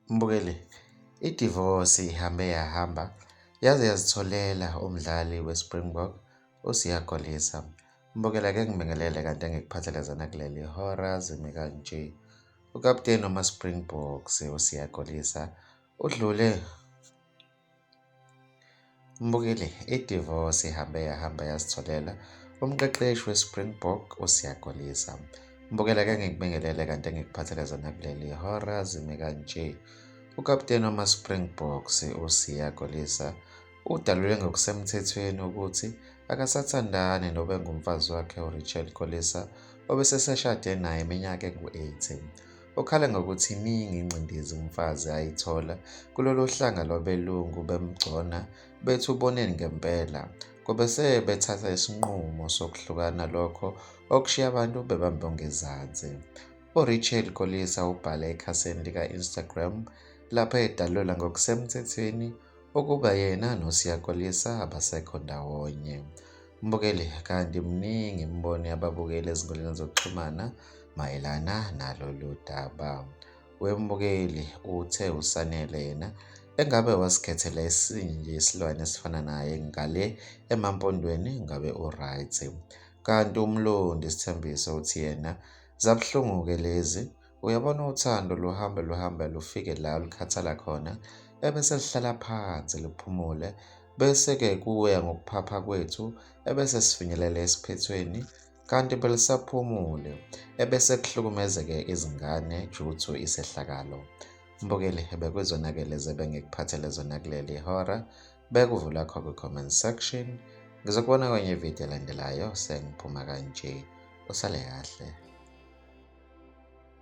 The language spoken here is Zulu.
Mbukeli, idivosi ihambe yahamba yaze yazitholela umdlali weSpringbok uSiya Kolisi. Mbukela ke ngibingelele kanti engikuphathelezana kuleli hora zimi kanje. Ukapteni wamaSpringboks uSiya Kolisi udlule Mbukile, idivosi ihambe yahamba yazitholela umqeqeshi weSpringbok uSiyakolisa. Mbukela ke ngikubingelele kanti engikuphathele zona kuleli hora zime kanje. Ukapteni wamaSpringboks uSiya Kolisa udalule ngokusemthethweni ukuthi akasathandani nobengumfazi wakhe uRachel Kolisa obeseseshade naye iminyaka engu-18. Ukhala ngokuthi iningi ingcindezi umfazi ayithola kulolo hlanga lwabelungu bemgcona bethi uboneni ngempela. Kube sebethatha isinqumo sokuhlukana lokho okushiya abantu bebambe ongezansi. URachel Kolisa ubhale ekhasini lika-Instagram lapho edalula ngokusemthethweni ukuba yena noSiya Kolisa abasekho ndawonye. Mbukeli, kanti mningi imbono yababukeli ezinkundleni zokuxhumana mayelana nalolu daba. Wembukeli uthe uSanele yena engabe wasikhethela esinye nje isilwane esifana naye ngale emampondweni ngabe uright. Kanti umlondi isithembiso uthi yena zabuhlungu-ke lezi Uyabona uthando luhambe luhambe lufike la olukhathala khona ebese lihlala phansi luphumule bese-ke kuya ngokuphapha kwethu ebese sifinyelela esiphethweni kanti belisaphumule ebese kuhlukumezeke izingane juthu isehlakalo mbukeli hebe kwizonakele zebe ngikuphathele zona kuleli hora bekuvula kho kwi-comment section ngizokubona kwenye ividiyo elandelayo sengiphuma kanje usale kahle